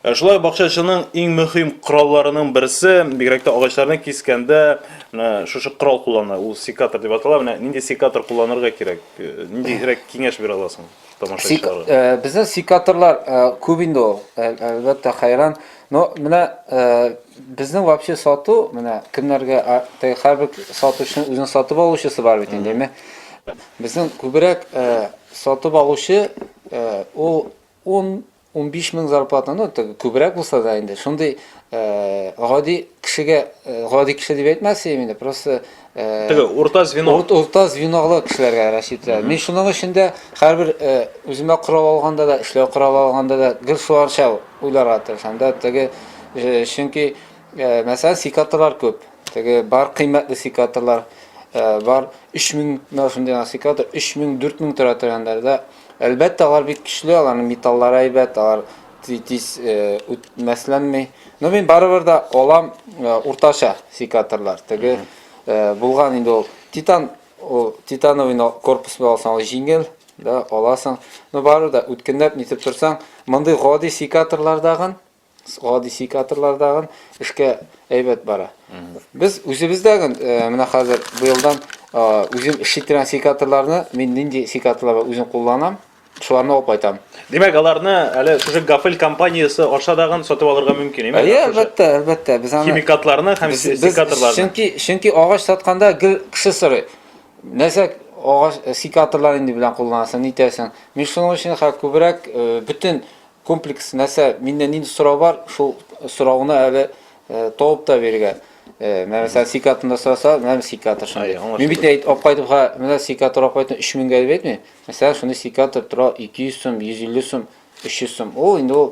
Ә шулай бакчачының иң мөхим коралларының берсе, бигрәк тә агачларны кискәндә, менә шушы корал куллана, ул секатор дип атала. Менә нинди секатор кулланырга кирәк? Э, ниндирәк киңәш бирә аласың тамашачыларга? Сек, э, безнең секаторлар э, күп инде ул, э, әлбәттә, хәйран. Но менә э, безнең вообще сату, менә кемнәргә, һәрбер сатучының үзенең сатып алучысы бар бит инде, әйме? Безнең күбрәк э, сатып алучы э, ул 10 Унбиш мең зарплата, ну, теге күбрәк булса да инде, шундый гади кешегә, гади кеше дип әйтмәсем инде, просто теге урта звено. Урта звенолы кешеләргә рассчитывать итә. Мин шуның өчен дә һәрбер үземә корал алганда да, эшләү коралы алганда да гел шуларча уйларга тырышам да, теге чөнки мәсәлән секаторлар күп. Теге бар кыйммәтле секаторлар. Э, бар 3000 мына шундый насыйкалар 3000 4000 тора торган да Әлбәттә, алар бик көчле, аларның металлары әйбәт, алар тиз үтмәсләнми. Но мин барыбер дә алам уртача секаторлар. Теге булган инде ул титан, ул титановый корпус белән алсаң, ул җиңел, да, аласың. Но барыбер дә үткенләп нитеп торсаң, мондый гади секаторлардагын гади секаторлардагы эшкә әйбәт бара. Без үзебездәге э, менә хәзер быелдан э, үзем эшли торган секаторларны мин нинди секаторлар үзем кулланам, шуларны алып кайтам. Димәк, аларны әле шушы Гафель компаниясе аша дагын сатып алырга мөмкин, әйме? Әйе, әлбәттә, әлбәттә. Без аны химикатларны һәм секаторларны. Чөнки чөнки агач сатканда гел кеше сорый. Нәрсә агач э, секаторлар инде белән кулланасың, нитәсең? Мин шуның өчен хәзер күбрәк бөтен Комплекс нәрсә, миннән нинди сорау бар, шул сорауны әле табып та биргән. Менә мәсәлән, сикатында сораса, менә сикатор шундый. Мин бит әйт, алып кайтып, ха, менә сикатор алып кайтып 3000 гә дип әйтмим. Мәсәлән, шундый сикатор тора 200 сум, 150 сум, 300 сум. Ул инде ул